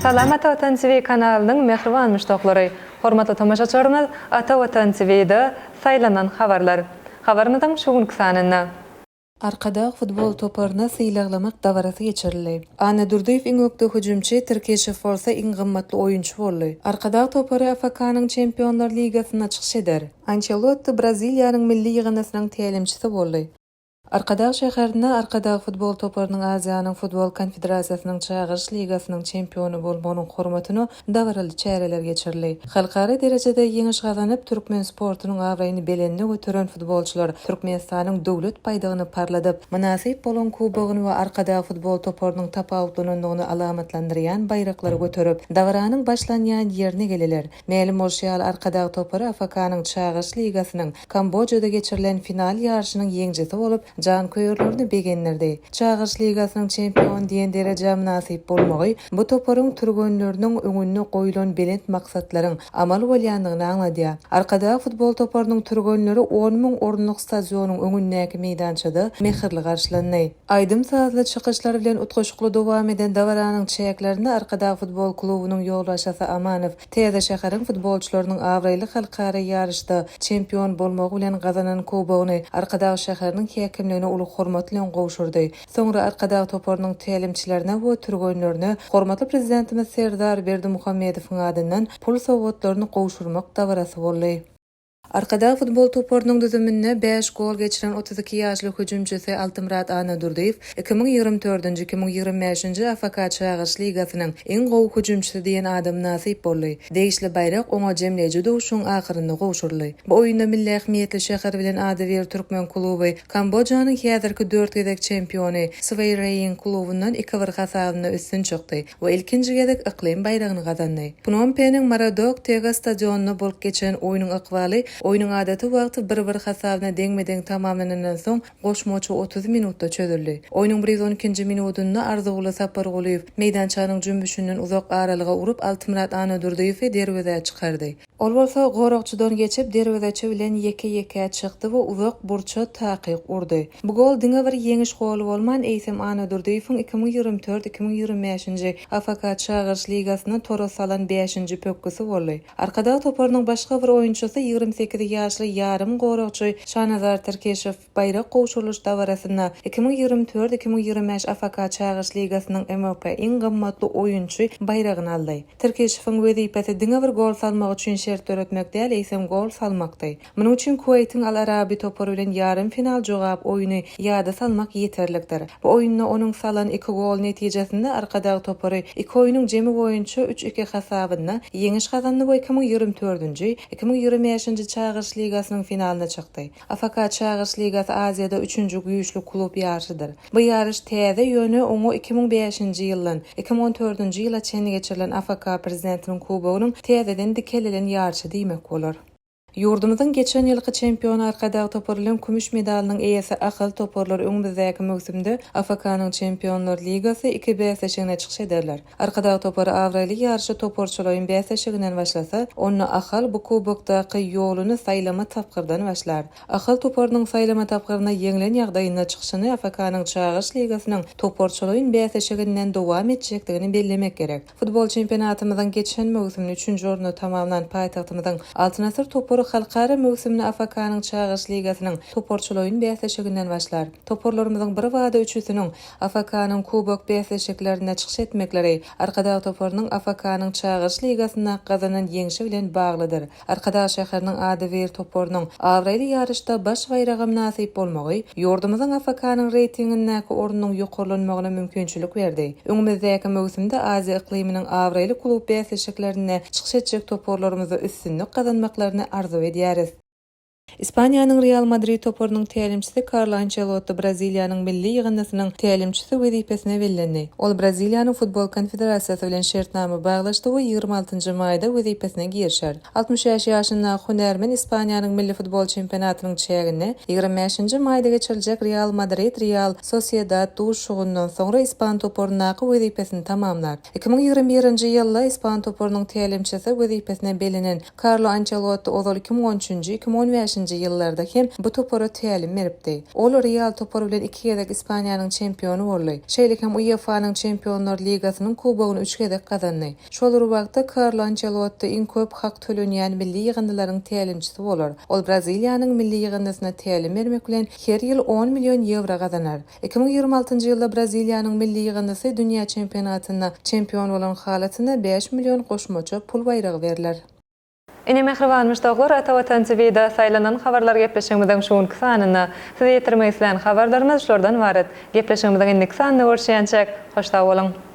Salam Ata Watan TV kanalynyň mähriban muşdaklary! Hormatly tomaşaçylarymyz Ata Watan TV-da Saýlanan habarlar habarymyzyň şu günki sanynda. Arkadag futbol toparyna sylaglamak dabarasy geçirildi. Annadurdyýew iň ökde hüjümçi, Tirkeşew bolsa iň gymmatly oýunçy boldy. Arkadag topary AFK-nyň Çempionlar ligasynda çykyş eder. Ançelotti Braziliýanyň milli ýygyndysynyň tälimçisi boldy. Arkadag şäherinde Arkadag futbol toparynyň Aziýanyň futbol konfederasiýasynyň Çagyryş ligasynyň çempiony bolmagynyň hormatyna dabaraly çäreler geçirildi. Halkara derejede ýeňiş gazanyp, türkmen sportunyň abraýyny belende göteren futbolçylar Türkmenistanyň Döwlet baýdagyny parladyp, mynasyp bolan kubogyny we Arkadag futbol toparynyň tapawutlanandygyny alamatlandyrýan baýraklary göterip, dabaranyň başlanýan ýerine geldiler. Mälim bolşy ýaly, Arkadag topary AFK-nyň Çagyryş ligasynyň Kambojada geçirilen final ýaryşynyň ýeňjisi bolup, janköýerlerini begendirdi. Çagyryş ligasynyň çempion diýen derejä mynasyp bolmagy bu toparyň türgenleriniň öňünde goýlan belent maksatlaryň amal bolýandygyny aňladýar. Arkadag futbol toparynyň türgenleri on müň orunlyk stadionyň öňündäki meýdançada mähirli garşylandy. Aýdym-sazly çykyşlar bilen utgaşykly dowam eden dabaranyň çäklerinde Arkadag futbol klubunyň ýolbaşçysy Amanow täze şäheriň futbolçylarynyň abraýly halkara ýaryşda çempion bolmagy bilen gazanan kubogyny Arkadag şäheriniň häkimligine uly hormat bilen gowşurdy. Soňra Arkadag toparynyň tälimçilerine we türgenlerine hormatly Prezidentimiz Serdar Berdimuhamedowyň adyndan pul sowgatlaryny gowşurmak dabarasy boldy. Arkadag futbol toparynyň düzüminde bäş gol geçiren otuz iki ýaşly hüjümçisi Altymyrat Annadurdyýew iki müň ýigrimi dördünji, iki müň ýigrimi bäşinji AFK Çagyryş ligasynyň iň gowy hüjümçisi diýen ada mynasyp boldy. Degişli baýrak oňa jemleýji duşuşygyň ahyrynda gowşuryldy. Bu oýunda milli ähmiýetli şäher bilen ady bir türkmen kluby Kambojanyň häzirki dört gezek çempiony Sweýreýing klubundan iki-bir hasabynda üstün çykdy. we ilkinji gezek yklym baýragyny gazandy. Pnompeniň Maradok-Tega stadionynda bolup geçen oýnuň ykbaly oýnuň adaty wagty bir-bir hasabyna deňme-deň tamamlanandan soň goşmaça otuz minutda çözüldi. Oýnuň bir ýüz on ikinji minudynda Arzuguly Sapargulyýew meýdançanyň jümmüşinden uzak aralyga urup Altymyrat Annadurdyýewi derwezä çykardy. Ol bolsa goragçydan geçip, derwezeçi bilen ýeke-ýekä çykdy we uzak burça takyk urdy. Bu gol diňe bir ýeňiş goly bolman, eýsem Annadurdyýewiň iki müň ýigrimi dört, iki müň ýigrimi bäşinji AFK Çagyryş ligasynda tora salan bäşinji pökgüsi boldy. Arkadag toparynyň başga bir oýunçysy, ýigrimi sekiz ýaşly ýarym goragçy Şanazar Tirkeşow. Baýrak gowşurylyş dabarasynda iki müň ýigrimi dört-iki müň ýigrimi bäş AFK Çagyryş ligasynyň MOK iň gymmatly oýunçy baýragyny aldy. Tirkişewiň wezipesi diňe bir gol salmak üçin şert döretmek däl, eýsem gol salmakdy. Munuň üçin Kuweýtiň Al Arabi topary bilen ýarym final jogap oýny ýada salmak ýeterlikdir. Bu oýunda onuň salan iki goly netijesinde Arkadag topary iki oýnuň jemi boýunça üç-iki hasabynda ýeňiş gazandy we iki müň ýigrimi dördünji, iki müň ýigrimi bäşinji Çagyryş ligasynyň finalyna çykdy. AFK Çagyryş ligasy Aziýada üçünji güýçli klub ýaryşydyr. Bu ýaryş täze, ýöne oňa iki müň bäşinji ýyldan iki müň on dördünji ýyla çenli geçirilen AFK Prezidentiniň kubogynyň täzeden dikelilen ýaryşy diýmek bolar. Ýurdumyzyň geçen ýylky çempiony Arkadag toparynyň kümüş medalynyň eýesi Ahal toparlary öňümizdäki möwsümde AFK-nyň Çempionlar ligasy iki bäsleşigine çykyş ederler. Arkadag topary abraýly ýaryşy toparçalaýyn bäsleşiginden başlasa, onda Ahal bu kubokdaky ýoluny saýlama tapgyrdan başlar. Ahal toparynyň saýlama tapgyrynda ýeňlen ýagdaýynda çykyşyny FFK-nyň Çagyryş ligasynyň toparçalaýyn bäsleşiginden dowam etjekdigini bellemek gerek. Futbol çempionatymyzyň geçen möwsümini üçünji orunda tamamlan paýtagtymyzyň Altyn asyr topary halkara möwsümini FFK-nyň Çagyryş ligasynyň toparçalaýyn bäsleşiginden başlar. Toparlarymyzyň birbada üçüsiniň AFK-nyň Kubok bäsleşiklerinde çykyş etmekleri Arkadag toparynyň AFK-nyň Çagyryş ligasynda gazanan ýeňşi bilen baglydyr. Arkadag şäheriniň Ady wir toparynyň abraýly ýaryşda baş baýraga mynasyp bolmagy ýurdumyzyň AFK-nyň reýtingindäki ornunyň ýokarlanmagyna mümkinçilik berdi. Öňümizdäki möwsümde Aziýa yklymynyň abraýly klub bäsleşiklerinde çykyş etjek toparlarymyza üstünlik gazanmaklaryny arzuw edýäris. Ispaniýanyň Real Madrid toparynyň tälimçisi Karlo Ançelotti Braziliýanyň milli ýygyndysynyň tälimçisi wezipesine bellendi. Ol Braziliýanyň Futbol konfederasiýasy bilen şertnama baglaşdy we ýigrimi altynjy maýda wezipesine girişer. Altmyş bäş ýaşyndaky hünärmen Ispaniýanyň milli futbol çempionatynyň çäginde ýigrimi bäşinji maýda geçiriljek Real Madrid, Real Sosiedad duşuşygyndan soňra ispan toparyndaky wezipesini tamamlar. Iki müň ýigrimi birinji ýylda ispan toparynyň tälimçisi wezipesine bellenen Karlo Ançelotti ozal iki müň on üçünji, iki müň on bäşinji ýyllarda hem bu topara tälim beripdi. Ol Real topary bilen iki gezek Ispaniýanyň çempiony boldy. Şeýle hem UEFA-nyň Çempionlar ligasynyň kubogyny üç gezek gazandy. Şol bir wagtda Karlo Ançelotti iň köp hak tölenýän milli ýygyndylaryň tälimçisi bolar. Ol Braziliýanyň milli ýygyndysyna tälim bermek bilen her ýyl on million ýewro gazanar. Iki müň ýigrimi altynjy ýylda Braziliýanyň milli ýygyndysy dünýä çempionatynda çempion bolan halatyna bäş million goşmaça pul baýragy berler. Ine mähriban muşdaklar Ata Watan TVda saýlanan habarlar gepleşigimiziň şu günki sanynda. Size ýetirmek islän habarlarymyz şulardan ybarat. Gepleşigimiziň indiki sanynda görüşýänçäk, hoş sag boluň!